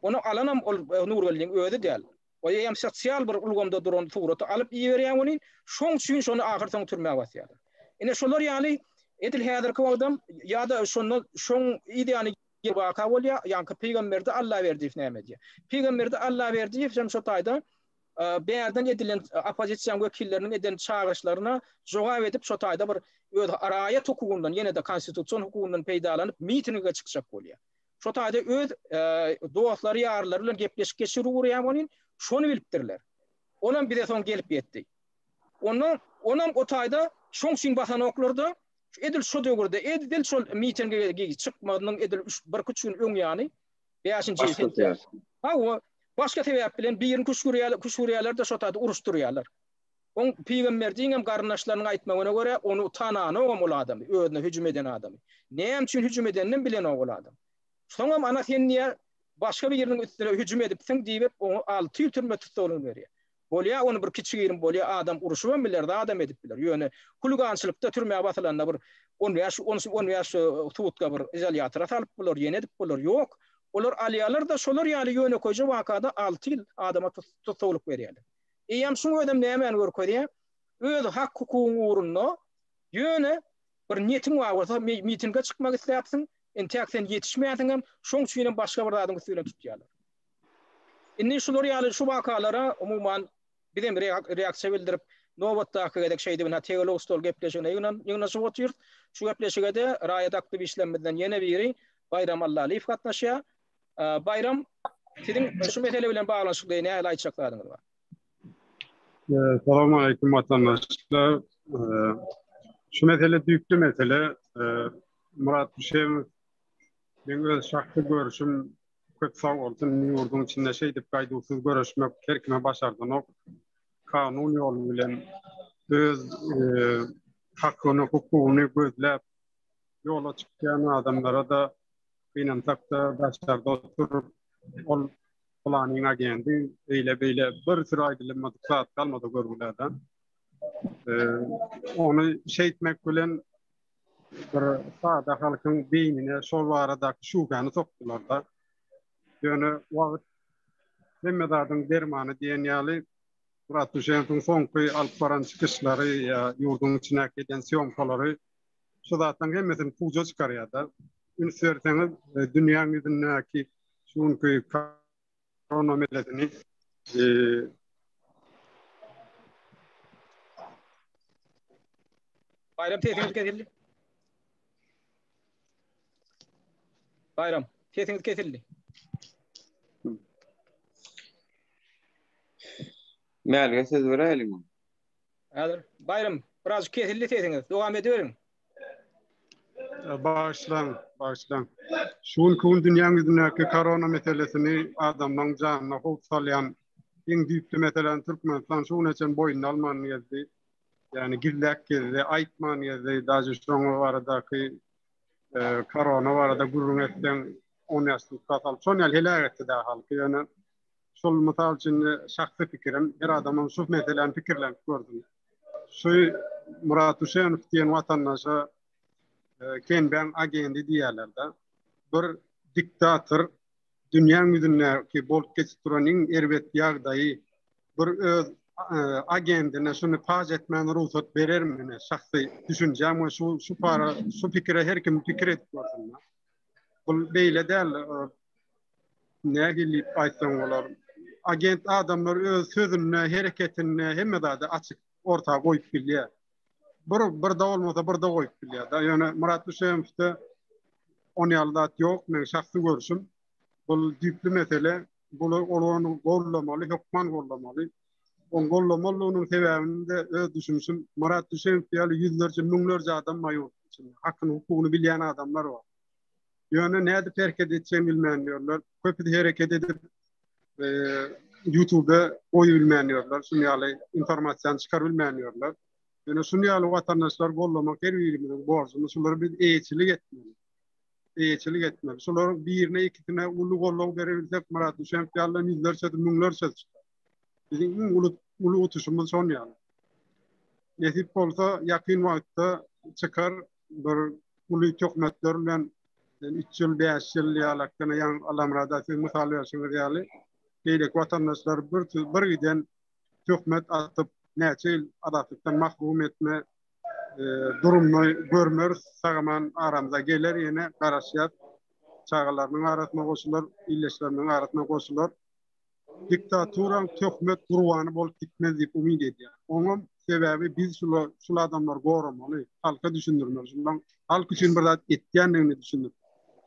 Ony alanam ol Nurgeldiň özi däl. Ol eýýäm sosial bir ulgamda duran suraty alyp iberýär welin, şoň üçin şony ahyrsoňy türmä basýarlar. Ine şolar ýaly edil häzirki wagtam ýa-da şondan şoň yz ýany. Bir waka bolýar, ýaňky Pygamberdi Allaberdiýew näme edýär? Pygamberdi Allaberdiýew hem şo taýda bärden edilen oppozisiýa wekilleriniň eden çagyryşlaryna jogap edip şo taýda bir öz raýat hukugyndan ýene-de konstitusion hukugyndan peýdalanyp mitinige çykjak bolýar. Şo taýda öz dostlary ýarlary bilen gepleşik geçirip ugrýar welin şony bilipdirler. Olam bize soň gelip ýetdi. Onda onam o taýda şoň üçin basan oklarda Edil şo döwürde, edil şol mitingi çykmagynyň edil üç, birküç gün öň ýany, bäşinji Başga sentýabr. sebäp. Hawa, başga sebäp bilen birini küşgürýärler, küşgürýärler-de şo taýda uruşdyrýarlar. Oň pygamberdigiň hem garyndaşlarynyň aýtmagyna görä, ony tananogam ol adamy, özüne hüjüm eden adamy. Näme üçin hüjüm edeninem bilenok ol adam. Soňam ana sen diýýär, başga biriniň üstüne hüjüm edipsiň diýip, oňa alty ýyl türme tussaglygyny berýär. Bolýa ony bir kiçigirim bolýa adam uruşybam biler zadam edip biler ýöne huligançylykda türmä basylanda bir on bäş on on bäş sutka bir izolýatora salyp bolar ýene edip bolar ýok olar alýalarda şolar ýaly ýönekeýje wakada alty ýyl adama tussaglyk berýäler eýýäm şuň özem nämäni görkezýä öz hak hukugyň ugrunda ýöne bir niýetiň bar bolsa mitinge çykmak isläpsiň entäk sen ýetişmäsiňem şoň üçinem başga bir zadyň üsti bilen tutýalar. Indi şular ýaly şu wakalara, umuman, biz hem reaksiýa bildirip, nobatdaky gezek şeýdibina teolog stol gepleşigine ýygnaşyp otyrys. Şu gepleşige-de raýat aktiwistlerimizden ýene biri Baýram Allalyýew gatnaşýar. Baýram, siziň şu mesele bilen baglanyşykly nähili aýtjak zadyňyz bar? Salam aleýkum, watandaşlar. Şu mesele düýpli mesele. Myrat Düşemow, meň öz şahsy görşüm, Köp sag bolsun ýurduň içinde şeýdip gaýduwsyz göreşmek her kime başardanok. Kanun ýoly bilen öz hakyny hukugyny gözläp ýola çykýan adamlara-da gynansak-da daşarda oturyp ol pylanyň agendi eýle beýle bir süri aýdylmadyk zat galmady görgülerde. Ony şeýtmek bilen bir sada halkyň beýnine şol baradaky şübhäni sokdular-da. Ýöne wagt hemme zadyň dermany diýen ýaly Murat Duşenowyň soňky alyp baran çykyşlary ýa ýurduň içindäki eden sýomkalary şu zatlaryň hemmesini puja çykarýar-da. Üns berseňiz, e, dünýäň ýüzündäki şu günki Korona meselesini Baýram sesiňiz kesildi. Baýram, sesiňiz kesildi. Mälige söz beräýeliňmi? Häzir, Baýram, biraz kesildi sesiňiz. Dowam ediberiň. Bagyşlaň, bagyşlaň. Şu günki gün dünýäň ýüzündäki korona meselesini adamlaryň janyna howp salýan iň düýpli meseläni Türkmenistan şu güne çenli boýnuna alman geldi. Ýagny gizläp gezdi, aýtman gezdi. Daže şoň baradaky e, korona barada gürrüň etseň, on ýaşlyk kasal. Şoň ýaly heläk etdi-de halky. Ýöne Şol mysal üçin şahsy pikirim, her adamyň şu meseläni pikirlenip görsün. Şu Murat Uşenow diýen watandaşa Kenbäň agendi diýýärler-de. Bir diktator dünýäň ýüzündäki bolup geçip duran iň erbet ýagdaýy bir öz agendine şuny paş etmäne rugsat berermi? Ine, şahsy düşünjäm we şu şu para, şu pikire her kim pikir edip görsün. Bu beýle däl. Nähili diýip aýtsaň bolar? Agent adamlar öz sözünde, hereketinde hemme zady açyk orta goýup bilýär. Bir birde bolmasa birde goýup bilýär-de. Ýöne Myrat Düşewowda on ýaly zat ýok, meň şahsy görşüm. Bu düýpli mesele. Bu ony goldamaly, hökman goldamaly. Ony goldamalynyň sebäbini de öz düşünişim, Myrat Düşewow ýaly ýüzlerçe, müňlerçe adam bar ýurduň içinde. Hakyny, hukugyny bilýän adamlar bar. Ýöne nädip hereket etjegini bilmän ýörler. Köpüsi hereket edip YouTube-da goýup bilmän ýörler. Şuny ýaly informasiýany çykaryp bilmän ýörler. Ýöne şuny ýaly watandaşlar gollamak her birimiziň borjumyz. Şulara biz eýeçilik etmeli. Eýeçilik etmeli. Şular birine ikisine uly golluw berebilsek, Murat Düşenk ýaly ýüzlerçe, müňlerçe çykar. Biziň iň uly uly utuşymyz şon ýaly. Nesip bolsa ýakyn wagtda çykar. bir uly töhmetler bilen üç ýyl, bäş ýyl ýalakdan ýan Alamrada siz mysal berşiňiz ýaly, beýleki watandaşlar bir bir giden töhmet atyp, näçe ýyl azatlykdan mahrum etme e, durumda görmeris, sagaman aramyza geler ýene garaşýar. Çagalarynyň arasyna goşular, illeşleriniň arasyna goşular. diktaturaň töhmet gurbany bolup gitmez diýip umyt edýän. Oňam sebäbi biz şula şul adamlary goramaly, halka düşündirmeli, şulaň halk üçin bir zat etýändigini düşündir,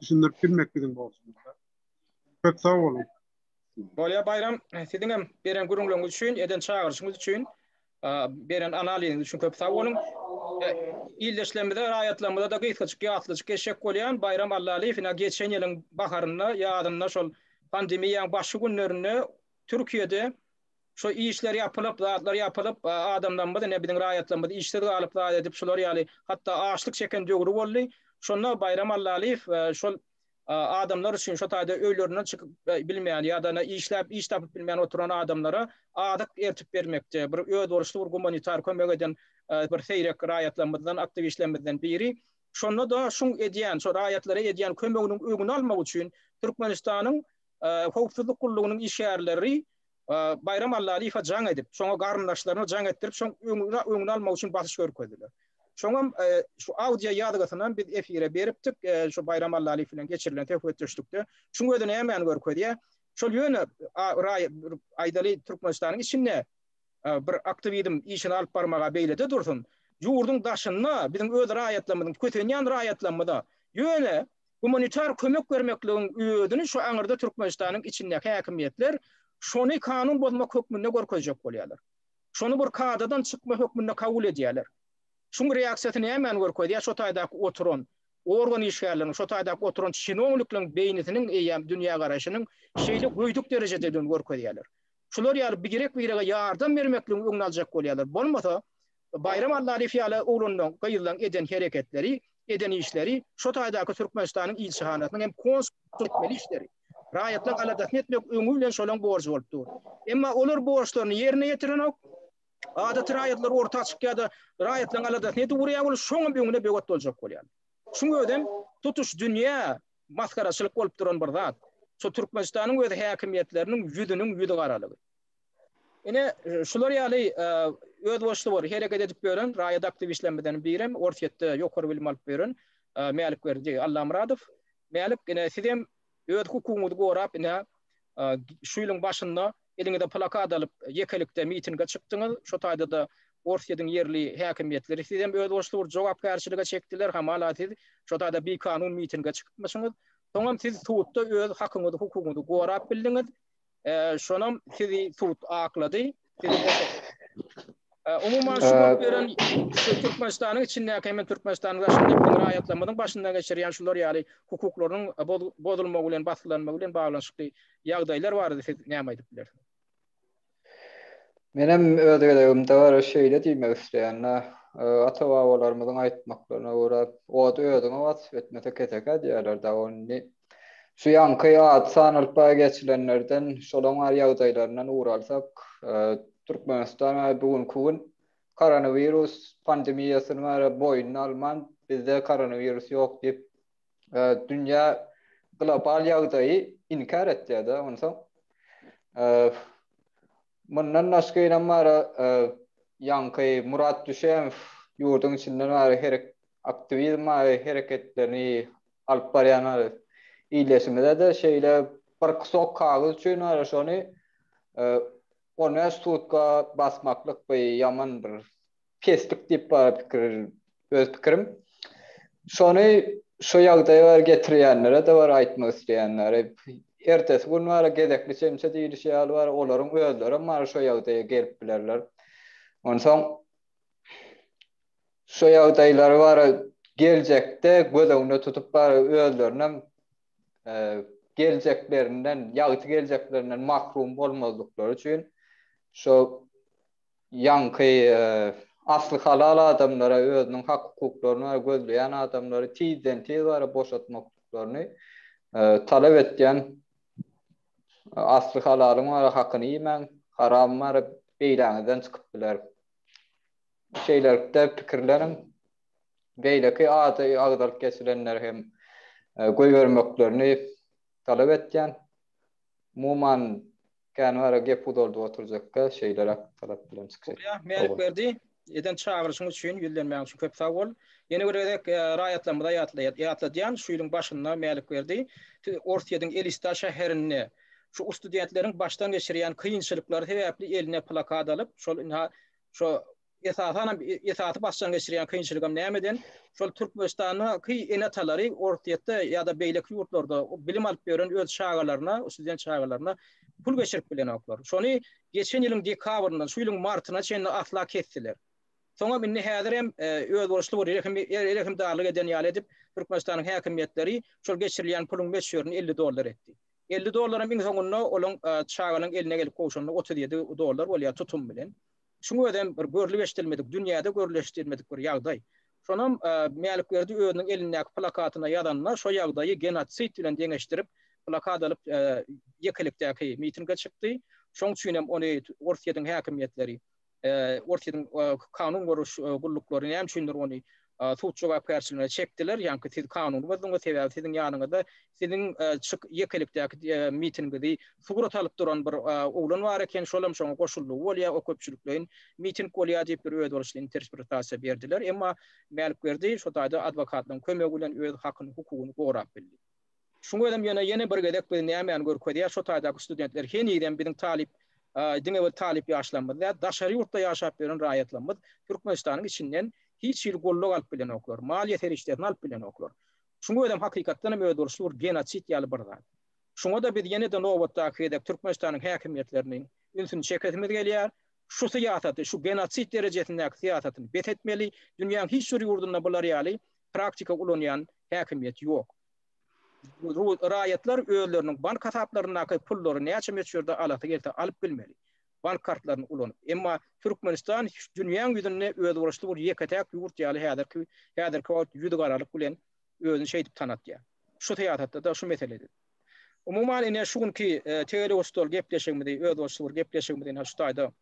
düşündirip bilmek biziň borjumyzda. Köp sag boluň. Bolýar Baýram, siziňem beren gürrüňleriňiz üçin, eden çagyryşyňyz üçin. Beren analiziňiz üçin köp sag boluň. Ildeşlerimize, raýatlarymyza-da gysgajyk ýatlyjyk geçjek bolýan, Baýram Allalyýew ine geçen ýylyň baharynda, ýazynda şol pandemiýaň başky günlerinde Türkiýede şu işler ýapylyp, zatlar ýapylyp, adamlarymyz ine biziň raýatlarymyz işsiz galyp zat edip şular ýaly hatda açlyk çeken döwri boldy. Şonda Baýram Allalyýew şol adamlar üçin, şo taýda öýlerinden çykyp bilmeýän ýa-da işläp iş tapyp bilmeýän oturan adamlara azyk ertip bermekde bir özboluşly bir gumanitar kömek eden bir seýrek raýatlarymyzdan, aktiwistlerimizden biri. Şonda-da şuň edýän, şo raýatlara edýän kömeginiň öňüni almak üçin Türkmenistanyň Howpsuzlyk gullugynyň işgärleri Baýram Allalyýewe jaň edip, şoňa garyndaşlaryna jaň etdirip, şoň öňüni almak üçin basyş görkezdiler. Şoňam şu audio ýazgysynam biz efire beripdik, şu Baýram Allalyýew bilen geçirilen söhbetdeşlikde. Şuň özi nämäni görkezýär? Şol ýöne aýdaly Türkmenistanyň içinde bir aktiwizm işini alyp barmaga beýlede dursun, ýurduň daşynda biziň öz raýatlarymyzyň, kösenýän raýatlarymyza ýöne gumanitar kömek bermekligiň özüni şu aňyrda Türkmenistanyň içindäki häkimiýetler şony kanun bozmak hökmünde görkezjek bolýarlar. Şony bir kadadan çykma hökmünde kabul edýärler. Şuň reaksiýasy nämäni görkezýär, şo taýdaky oturan organ işgärleriniň, şo taýdaky oturan çinownikliň beýnisiniň eýýäm dünýägaraýşynyň şeýle göýdük derejededigini görkezýärler. Şular ýaly birek-birege ýardam bermekligiň öňüni aljak bolýarlar. Bolmasa, Baýram Annalyýew ýaly oglanlaň, gyzlaň eden hereketleri, eden işleri, şo taýdaky Türkmenistanyň ilçihanasynyň hem konsullygyň etmeli işleri. Raýatlaň aladasyny etmek öňi bilen şolaň borjy bolup dur. Emma olar borçlaryny ýerine ýetirenok. Adaty raýatlar orta açyk ýa-da raýatlaň aladasyny edip urýar, ol şoňam öňüne böwet boljak bolýar. Şuň özem tutuş dünýä masgaraçylyk bolup duran bir zat. Şo Türkmenistanyň öz häkimiýetleriniň ýüzüniň ýüzügaralygy. Ine, şular ýaly özboluşly bor, hereket edip ýören raýat aktiwistlerimizden birem Orsýetde ýokary bilim alyp ýören Mälik Berdi Allamyradow. Mälik, ine, sizem öz hukugyňyzy gorap, ine, şu ýylyň başynda eliňize plakat alyp, ýekelikde mitinge çykdyňyz. Şu taýda-da Orsýetiň ýerli häkimiýetleri sizem özboluşly bir jogapkärçilige çekdiler. Hamala, siz şu taýda bikanun mitinge çykypmyşyňyz. Soňam siz sudda öz hakyňyzy, hukugyňyzy gorap bildiňiz. Şonam sizi sud aklady. Umuman şu bolup ýören şu Türkmenistanyň içindäki hem Türkmenistanyň daşyndaky raýatlarymyzyň başyndan geçirýän şular ýaly hukuklarynyň bozulmagy bilen, basgylanmagy bilen baglanyşykly ýagdaýlar barada siz näme aýdyp bilersiňiz? Menem öz gezegimde gara şeýle diýmek isleýän. Ata-babalarymyzyň aýtmaklaryna görä, Ot özüňe wasp etmese kesekä diýýärler-dä, ony Şu ýanky ady sanalyp baý geçilenlerden, şolaň bar ýagdaýlaryndan ugur alsak, Türkmenistan we bu günki gün koronawirus pandemiýasyny bary boýnuna alman, bizde koronawirus ýok diýip, dünýä global ýagdaýy inkär etýär-de onsoň. Mundan başga ýene Mary ýaňky Murat Düşemow ýurduň içinde Mary herek aktiwizm Mary hereketlerini alyp barýan Mary ildeşimize-de şeýle bir kusok kagyz üçin Mary şony on bäş sutka basmaklyk bir ýaman bir peslik diýip bar pikir öz pikirim. Şony şu ýagdaýa bar getirýänlere-de bar aýtmak isleýänleri. Ertesi gün bar gezekli çemçe diýlişi ýaly bar olaryň özlerem bar şu ýagdaýa gelip bilerler. Onsoň şu ýagdaýlary bar geljekde göz öňünde tutup bar özlerinem geljeklerinden ýagty geljeklerinden mahrum bolmazlyklary üçin şu Ýaňky asly halal adamlara özüniň hak-hukuklaryny we gözleýän adamlary tizden-tiz bara boşatmaklyklaryny talap etýän asly halalyň bara hakyny iýmäň, haram bara beýläňizden çykyp biler. Şeýlelikde pikirleniň. Beýleki ady agzalyp geçilenleri hem goýbermeklerini talap etýän. Umuman, Kän wara gep uzaldyp oturjakka şeýleräk talap bilen çykyş et. Gurýa, Mälikberdi, eden çagyryşyň üçin, ýüzlenmäň üçin köp sag bol. Ýene bir gezek raýatlarymyza ýatladýan, şu ýylyň başynda Mälikberdi Orsýediň Elista şäherinde şu ustudentleriň başdan geçirýän kynçylyklary sebäpli eline plakat alyp, şol ynha şo Esasanam esasy başdan geçirýän kynçylygam nämeden, şol Türkmenistandaky ene-atalary Orsýetde ýa-da beýleki ýurtlarda bilim alyp ýören öz çagalaryna, student çagalaryna pul geçirip bilenoklar. Şony geçen ýylyň dekabryndan şu ýylyň martyna çenli asla kesdiler. Soňam indi häzirem özboluşly bir rehimdarlyk eden ýaly edip, Türkmenistanyň häkimiýetleri şol geçirilýän puluň möçberini elli dollar etdi. Elli dollaram iň soňunda olaň çaganyň eline gelip gowşanda otuz ýedi dollar bolýar tutum bilen. Şuň özem bir görlüp-eşidilmedik, dünýäde görlüp-eşidilmedik bir ýagdaý. Şonam Mälikberdi özüniň elindäki plakatyna ýazanda, şo ýagdaýy genotsid bilen deňeşdirip, plakat alyp ýekelikdäki mitinge çykdy. Şoň üçin hem ony Orsýetiň häkimiýetleri, Orsýetiň kanun goraýyş gulluklary näme üçindir ony sud jogapkärçiligine çekdiler, ýaňky siz kanuny bozduňyz, sebäbi siziň ýanyňyzda siziň çyk ýekelikdäki mitingiňizi surat alyp duran bir oglan bar eken, şol hem şoňa goşuldygy bolýar, o köpçülikleýin miting bolýar diýip bir özboluşly interspretasiýa berdiler, emma Mälikberdi şo taýda adwokatlaryň kömegi bilen öz hakyny, hukugyny gorap bildi. Şuň özem ýöne ýene bir gezek bizi nämäni görkezýär, şo taýdaky studentler henizem biziň talyp, diňe bir talyp ýaşlarymyz däl, daşary ýurtda ýaşap ýören raýatlarymyz Türkmenistanyň içinden hiç hili goldaw alyp bilenoklar, maliýe serişdesini alyp bilenoklar. Şuň özem hakykatdan hem özboluşly bir genosid ýaly bir zat. Şuňa-da biz ýene-de nobatdaky gezek Türkmenistanyň häkimiýetlerini ünsüni çekesimiz gelýär. Şu syýasaty, şu genosid derejesindäki syýasatyny bes etmeli. Dünýäň hiç bir ýurdunda bular ýaly praktika ulanýan häkimiýet ýok. Raýatlar özleriniň bank hasaplaryndaky pullary näçe möçberde alasy gelse alyp bilmeli, bank kartlaryny ulanyp. Emma Türkmenistan dünýäň ýüzünde özboluşly bir ýeke-täk ýurt ýaly häzirki häzirki wagt ýüzügaralyk bilen özüni şeýdip tanatýar. Şu syýasatda-da, şu meselede-de. Umuman, ine, şu günki Tegelek-Usstal gepleşigimizi, özboluşly bir gepleşigimizi ine şu taýda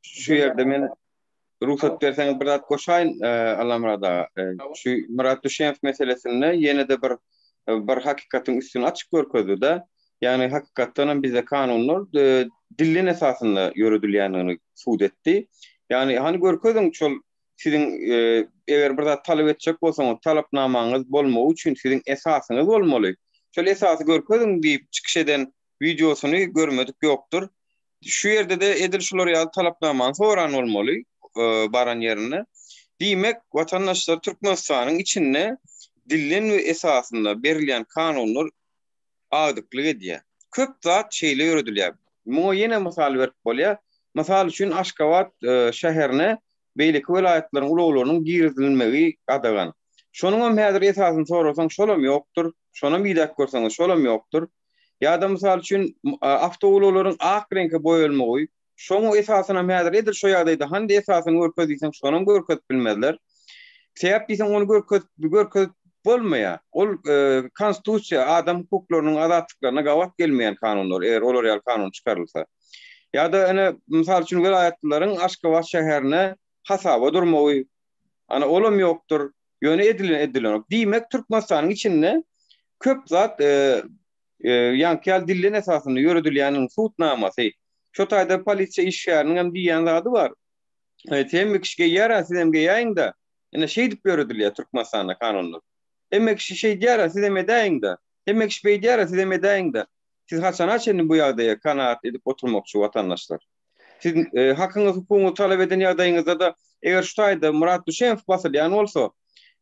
Şu ýerde men Rugsat berseňiz bir zat goşaýyn Allamyrat aga. Şu Myrat Düşeýew meselesinde ýene-de bir bir hakykatyň üstüni açyp görkezdi-de, ýagny hakykatdan hem bizde kanunlar dillin esasynda ýöredilýändigini subut etdi. Ýagny hany görkeziň şol siziň eger bir zat talap etjek bolsaňyz talapnamaňyz bolmagy üçin siziň esasyňyz bolmaly. Şol esasy görkeziň diýip çykyş eden wideosyny görmedik ýokdur. Şu ýerde-de edil şular ýaly talapnamany soran bolmaly baran ýerinde. Diýmek, watandaşlar Türkmenistanyň içinde dilden we esasynda berilýän kanunlar agdyklyk edýär. Köp zat şeýle ýöredilýär. Muňa ýene mysal berip bolýar. Mysal üçin Aşgabat şäherine beýleki welaýatlaryň ulaglarynyň girizilmegi gadagan. Şonuňam häzir esasyny sorasaň şolam ýokdur, şonam idäp görseňiz şolam ýokdur. Ýa-da mysal üçin awtoulaglaryň ak reňke boýalmagy, şoňa esasynam häzir edil şo ýagdaýda hany esasyny görkez diýseň şonam görkezip bilmezler. Sebäp diýseň ony görkezip görkezip bolmaýar. Ol konstitusiýa, adam hukuklarynyň, azatlyklaryna gabat gelmeýän kanunlar, eger olar ýaly kanun çykarylsa. Ýa-da, ine, mysal üçin, welaýatlylaryň Aşgabat şäherine hasaba durmagy, ana, olam ýokdur, ýöne edilen edilenok. Diýmek, Türkmenistanyň içinde köp zat ýaňky ýaly dilden esasynda ýöredilýänini sud namasy, şo taýda polisiýa işgäriniň hem diýýän zady bar, Hemme kişi geýýär-ä, siz hem geýäýiň-de. Ine, şeýdip ýöredilýär Türkmenistanda kanunlar. Hemme kişi şeýdýär-ä, siz hem edäýiň-de. Hemme kişi beýdýär-ä, siz hem edäýiň-de. Siz haçana çenli bu ýagdaýa kanagat edip oturmakçy watandaşlar? Siz hakyňyz hukugyňyz talap eden ýagdaýyňyzda-da eger şu taýda Murat Düşemow basylýan bolsa,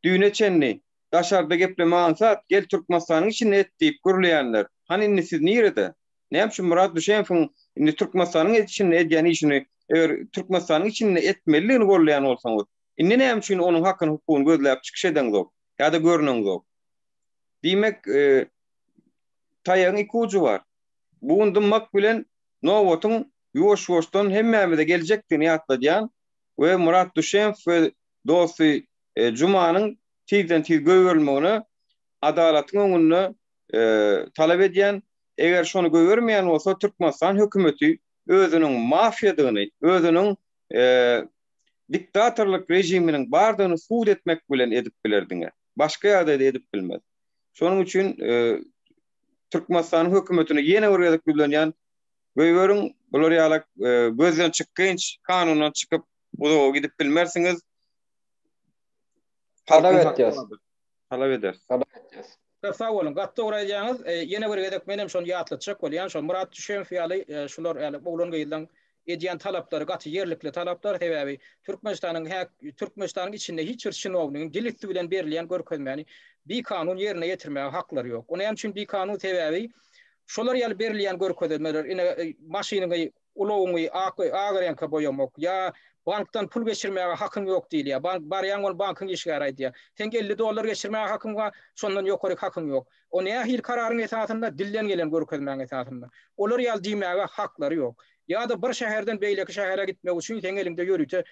düýne çenli daşarda gepleme aňsat, gel Türkmenistanyň içinde et diýip gürleýänler, hany indi siz nirede? Näme üçin Murat Düşemowyň indi Türkmenistanyň içinde edýän işini eger Türkmenistanyň içinde etmelidigini golleýan bolsaňyz, indi näme üçin onuň hakyny hukugyny gözläp çykyş edeňzok ýa-da görneňzok? Diýmek, Taýagyň iki ujy bar. Bugun dymmak bilen nobatyň ýuwaş-ýuwaşdan hemmämize geljekdigini ýatladýan we Murat Duşemow we dosty Jumanyň tizden-tiz goýberilmegini adalatyň öňünde talap edýän, eger şony goýbermeýän bolsa Türkmenistan hökümeti özüniň mafiýadygyny, özüniň diktatorlyk režiminiň bardygyny subut etmek bilen edip biler diňe. Başga ýagdaýda edip bilmez. Şonuň üçin Türkmenistanyň hökümetine ýene bir gezek ýüzlenýän, göýberiň, bular ýaly gözden çykgynç kanundan çykyp uzaga gidip bilmersiňiz. Talap etýäs. Talap ederiz. Talap edýäs. Köp sag boluň. Gaty dogry aýdýaňyz. Ýene bir gezek menem şony ýatlatjak bolýan, şo Murat Düşemow ýaly, şular ýaly oglan-gyzlaň edýän talaplary gaty ýerlikli talaplar, sebäbi Türkmenistanyň hä Türkmenistanyň içinde hiç bir çinownigiň dil üsti bilen berilýän görkezmäni bikanun ýerine ýetirmäge haklary ýok. O näme üçin bikanun, sebäbi şolar ýaly berilýän görkezemeler, ine, maşynyňy, ulagyňy ak ak reňke boýamak ýa bankdan pul geçirmäge hakyň ýok diýilýär. Bank barýaň ony bankyň işgäri aýdýar. Seň elli dollar geçirmäge hakyň bar, şondan ýokaryk hakyň ýok. O nähili kararyň esasynda? Dilden gelen görkezmäň esasynda. Olar ýaly diýmäge haklary ýok. Ýa-da bir şäherden beýleki şähere gitmek üçin seň eliňde ýörite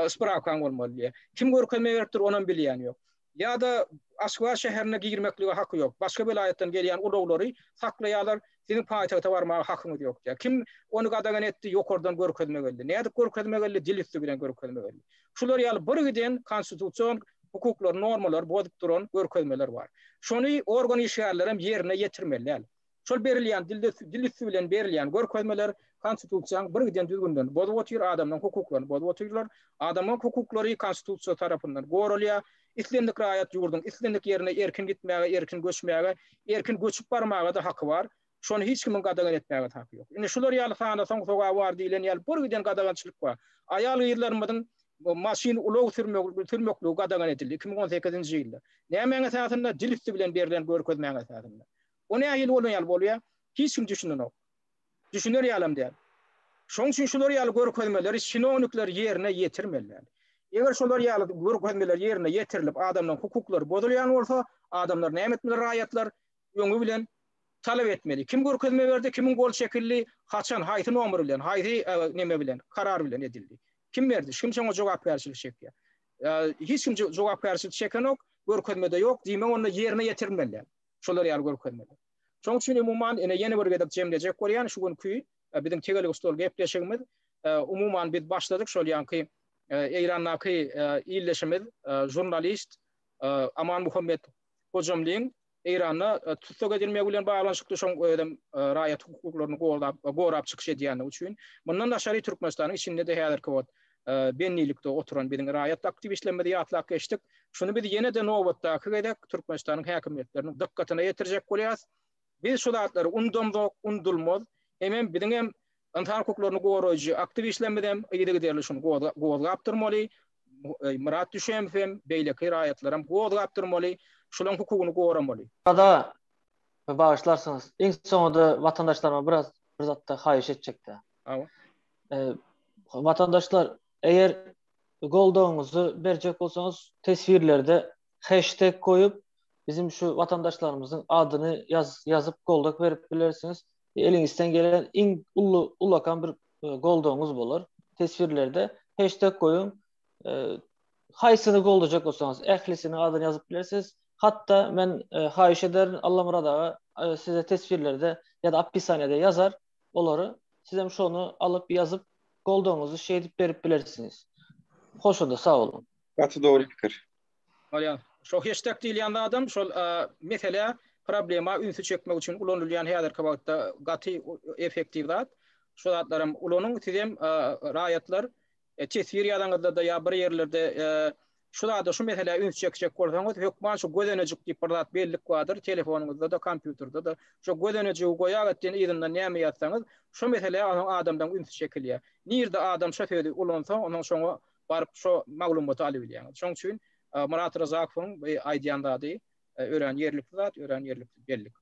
sprawkaň bolmaly diýýär. Kim görkezme beripdir, onam bilýän ýok. Ýa-da Aşgabat şäherine girmeklige haky ýok. Başga welaýatdan gelýän ulaglary saklaýarlar. Siziň paýtagta barmaga hakyňyz ýok diýýär. Kim ony gadagan etdi? Ýokardan görkezme geldi. Nädip görkezme geldi? Dil üsti bilen görkezme geldi. Şular ýaly birgiden konstitusion hukuklary, normalary bozup duran görkezmeler bar. Şony organ işgärlerem ýerine ýetirmeliler. Şol berilýän dilde dil üsti bilen berilýän görkezmeler konstitusiýany birgiden düzgünlerini bozup otyr, adamlaryň hukuklaryny bozup otyrlar. Adamlaryň hukuklary konstitusiýa tarapyndan goralýar. Islendik raýat ýurduň islendik ýerine erkin gitmäge, erkin göçmäge, erkin göçüp barmaga-da haky bar. Şony hiç kimiň gadagan etmäge-de haky ýok. Indi şular ýaly sanasaň sogaby bar diýlen ýaly birgiden gadagançylyk bar. Aýal-gyzlarymyzyň maşyn, ulag sürmegi, sürmekligi gadagan edildi iki müň on sekizinji ýylda. Nämäň esasynda? Dil üsti bilen berlen görkezmäň esasynda. Bu nähili bolan ýaly bolýar? Hiç kim düşünenok. düşüner ýalam däl. Şoň üçin şular ýaly görkezmeleri çinownikler ýerine ýetirmeliler. Eger şular ýaly görkezmeler ýerine ýetirilip adamlaryň hukuklary bozulýan bolsa, adamlar näme etmeli raýatlar öňi bilen talap etmeli. Kim görkezme berdi, kimiň gol çekildi, haçan, haýsy nomer bilen, haýsy neme bilen, karar bilen edildi. Kim berdi, kim şoňa jogapkärçilik çekýär. Hiç kim jogapkärçilik çekenok, görkezmede ýok, diýmek onda ýerine ýetirilmeliler şular ýaly görkezmeler. Şoň üçin umuman ine ýene bir gezek jemlejek bolýan şu günki biziň tegelek stol gepleşigimiz. Umuman biz başladyk şol ýanky Eýrandaky ildeşimiz žurnalist Aman Muhammet Hojamlyň Eýranda tussag edilmegi bilen baglanyşykly şoň özem raýat hukuklaryny gorap çykyş edýändigi üçin. Mundan daşary Türkmenistanyň içinde-de häzirki wagt bendilikde oturan biziň raýat aktiwistlerimizi ýatlap geçdik. Şuny biz ýene-de nobatdaky gezek Türkmenistanyň häkimiýetleriniň dykgatyna ýetirjek bolýarys. Biz şu zatlary undamzok, undulmaz. Hemem biziň hem ynsan hukuklaryny goraýjy aktiwistlerimiz hem yzygiderli şuny gozgap durmaly. Myrat Düşemow hem, beýleki raýatlar hem gozgap durmaly, şularyň hukugyny goramaly. Sada, bagyşlarsyňyz, iň soňunda watandaşlaryma biraz bir zatda haýyş etjek-dä. Hawa. Watandaşlar, eger goldawyňyzy berjek bolsaňyz, teswirlerde hashtag goýup, biziň şu watandaşlarymyzyň adyny ýazyp goldak berip bilersiňiz. Eliňizden gelen iň uly ulakan bir goldawyňyz bolar. Teswirlerde hashtag goýuň. Haýsyny goldajak bolsaňyz, ählisiniň adyny ýazyp bilersiňiz. Hatda men haýyş ederin, Allamyrat aga size teswirlerde ýa-da oppisaniýada ýazar. olary sizem şony alyp ýazyp goldawyňyzy şeýdip berip bilersiňiz. Hoşada sag boluň. Gaty dogry pikir. Bolýar. Şo heştag diýilýän zadam şol meselä, problema ünsi çekmek üçin ulanylýan häzirki wagtda gaty efektiw zat. Şo zatlaram ulanyň sizem raýatlar teswir ýazanyňyzda-da ýa bir ýerlerde şu zada, şu meselä üns çekjek bolsaňyz, hökman şu gözenejik diýip bir zat bellik bardyr, telefonyňyzda-da, kompýuterde-de. Şo gözenejigi goýagat diýen yzyndan näme ýazsaňyz, şo meselä onuň adamdan ünsi çekilýär. Nirde adam şo sözi ulansa, onuň şoňa baryp şo maglumaty alybilýäňiz. Şoň üçin Myrat Ryzakowyň bu aýdýan zady örän ýerlikli zat, örän ýerlikli bellik.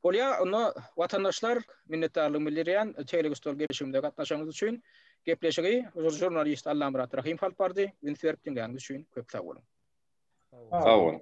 Bolýa, onda, watandaşlar, minnetdarlygym bildirýän, tegelek stol gepleşigimize gatnaşanyňyz üçin. Gepleşigi žurnalist Allamyrat Rahymow alyp bardy. Üns berip diňläniňiz üçin köp sag boluň! Sag boluň!